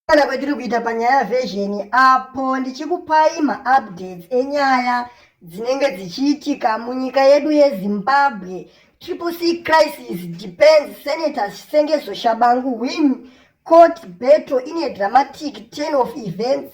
Kana kwatiri kuita panyaya vhezheni apo ndichikupai maupdates enyaya dzinenge dzichiitika munyika yedu yezimbabwe triple c crisis depends senator sengezo shabangu win court battle ine dramatic ten of events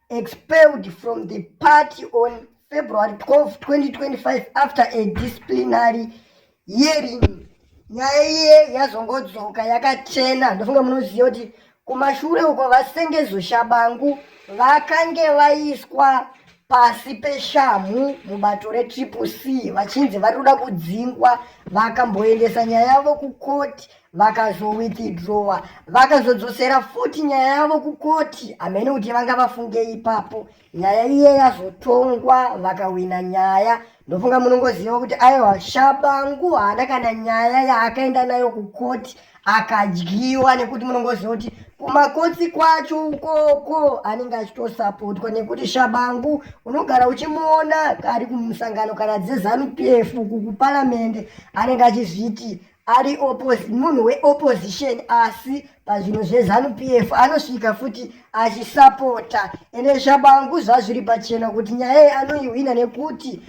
expelled from the party on February 12, 2025 after a disciplinary hearing. Nyaya iye yazongodzoka yakachena ndofunga munoziva kuti kumashure uko vasengezo shabangu vakange vaiswa pasi peshamhu mubato retriple c vachinzi vari kuda kudzingwa vakamboendesa nyaya yavo kukoti vakazowithdrowa vakazodzosera futi nyaya yavo kukoti hamene kuti vanga vafunge ipapo nyaya iye yazotongwa vakawina nyaya ndofunga munongoziva kuti aiwa shabangu haana kana nyaya yaakaenda nayo kukoti akadyiwa nekuti munongoziva kuti kumakotsi kwacho ukoko anenge achitosapotwa nekuti shabangu unogara uchimuona ari kumusangano kana dzezanu pf uku kuparamende anenge achizviti ari munhu weopposition asi pazvinhu zvezanu p f anosvika futi achisapota ende shabangu zvazviri pachena kuti nyaya iyi anoihwina nekuti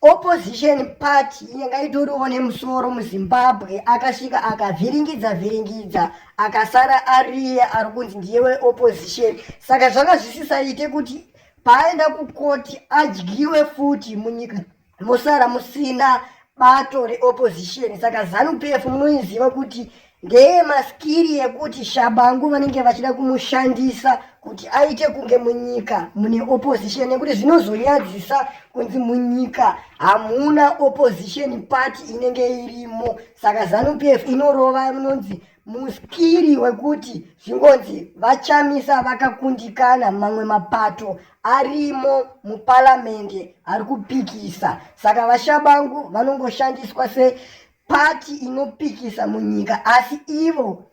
opposition party inenge itoriwo nemusoro muzimbabwe akasvika akavhiringidza vhiringidza akasara ariye ari kunzi ndiye weopposition saka zvanga zvisisaite kuti paaenda kukoti adyiwe futi munyika mosara musina bato reopposition saka zanu pf munoiziva kuti ndeye maskiri yekuti shabangu vanenge vachida kumushandisa kuti aite kunge munyika mune opposition nekuti zvinozonyadzisa kunzi munyika hamuna opposition party inenge irimo saka zanu pf inorova inonzi Muskiri wekuti zvingonzi VaChamisa vakakundikana mamwe mapato arimo muparamende ari kupikisa saka VaShabangu vanongoshandiswa sepati inopikisa munyika asi ivo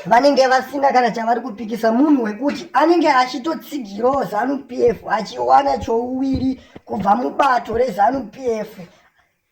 vanenge vasina kana chavari kupikisa munhu wekuti anenge achitotsigirawo zanu p f achiwana chouviri kubva mubato rezanu p f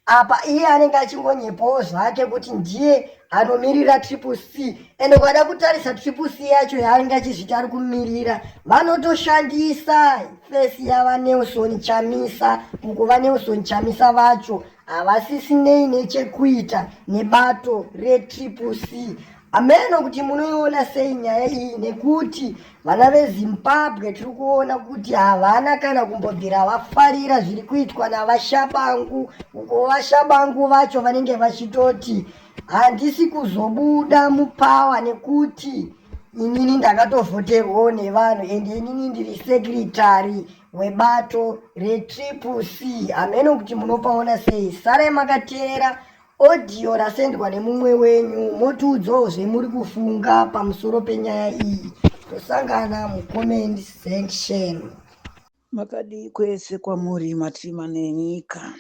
apa iye anenge achingonyepawo zvake kuti ndiye anomirira triple c ende ukada kutarisa triple c yacho yaanenge achizviti ari kumirira vanotoshandisa fesi yavanelson chamisa uko vanelson chamisa vacho havasisinei nechekuita nebato retriple c Hameno kuti munoiona sei nyaya iyi nekuti vana veZimbabwe tiri kuona kuti havana kana kumbobvira vafarira zviri kuitwa naVaShabangu uko VaShabangu vacho vanenge vachitoti handisi kuzobuda mupawa nekuti inini ndakatovhoterwawo nevanhu and inini ndiri sekretary webato retriple c hameno kuti munopaona sei sarai makateera Audio rasendwa nemumwe wenyu motiudzawo zvemuri kufunga pamusoro penyaya iyi. Tosangana mucomment section. Makadii kwese kwamuri matima nenyika.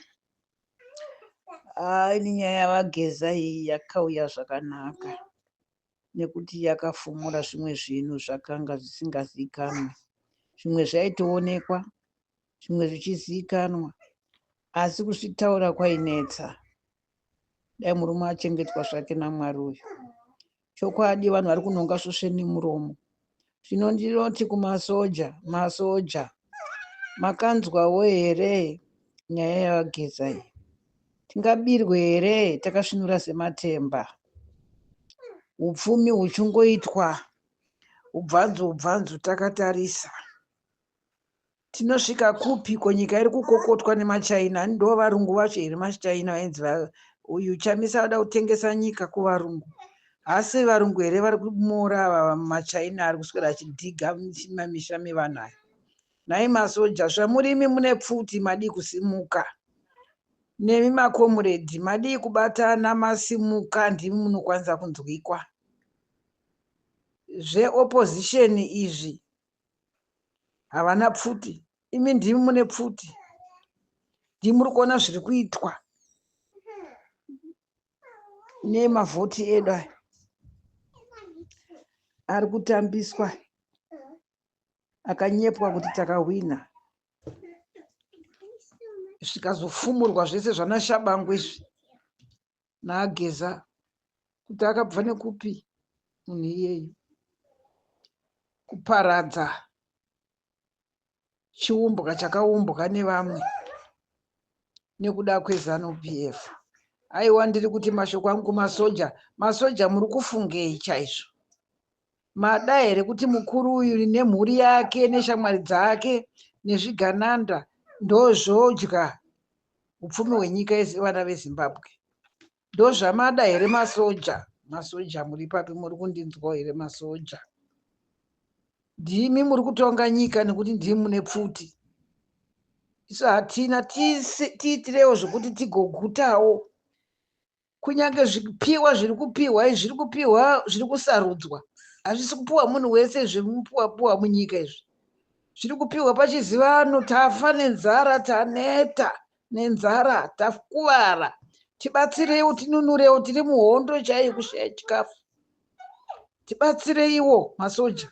Ah, ini nyaya yavageza iyi yakauya zvakanaka. nekuti yakafumura zvimwe zvinhu zvakanga zvisingazivikanwe. Zvimwe zvaitoonekwa, zvimwe zvichizivikanwa, asi kuzvitaura kwainetsa. Dai murume achengetwa zvake naMwari uyu. Chokwadi vanhu vari kunonga svosve nemuromo. Zvino ndinoti kumasoja, masoja, makanzwawo here nyaya yaVaGeza iyi? Tingabirwe here takasvinura sematemba? Upfumi huchingoitwa ubvanzu ubvanzu takatarisa. Tinosvika kupi ko nyika iri kukokotwa nemachaina ndo varungu vacho here machaina vainzi uyu chamisa vada kutengesa nyika kuvarungu hasi varungu here vari kumora ava machaina ari kuswera achidhiga mamisha mevanhu aya nhai masoja zvamurimi mune pfuti madii kusimuka nemi makomuredhi madii kubatana masimuka ndimi munokwanisa kunzwikwa zveopposition izvi havana pfuti imi ndimi mune pfuti ndimi muri kuona zviri kuitwa nemavhoti edu aya ari kutambiswa akanyepwa kuti takahwina zvikazofumurwa zvese zvanashabangu izvi naageza kuti akabva nekupi munhu iyeyu kuparadza chiumbwa chakaumbwa nevamwe nekuda kwezanu p f aiwa ndiri kuti mashoko angu kumasoja masoja muri kufungei chaizvo mada here kuti mukuru uyu nemhuri yake neshamwari dzake nezvigananda ndozvodya upfumi hwenyika vana vezimbabwe ndozvamada here masoja masoja muri papi muri kundinzwa here masoja ndimi muri kutonga nyika nekuti ndimi mune pfuti isu hatina tiitirewo zvekuti tigogutawo kunyange zvipiwa zviri kupiwa izvi zviri kupiwa zviri kusarudzwa hazvisi kupiwa munhu wese zvemupiwapiwa munyika izvi zviri kupiwa pachizivano tafa nenzara taneta nenzara takuvara tibatsireiwo tinunurewo tiri muhondo chaiyo kushaya chikafu tibatsireiwo masoja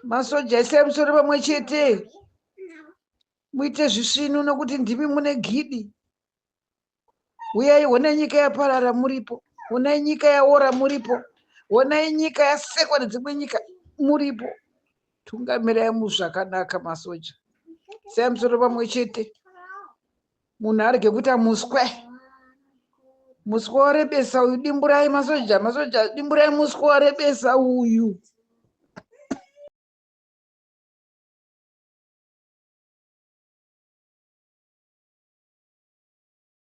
masoja isai musoro pamwe chete muite zvisvinu nokuti ndimi mune gidi uyai honai nyika yaparara muripo honai nyika yaora muripo honai nyika yasekwa nedzimwe nyika muripo tungamirai muzvakanaka masoja sei musoro pamwe chete munhu arege kuita muswe muswe warebesa uyu dimburai masoja masoja dimburai muswe warebesa uyu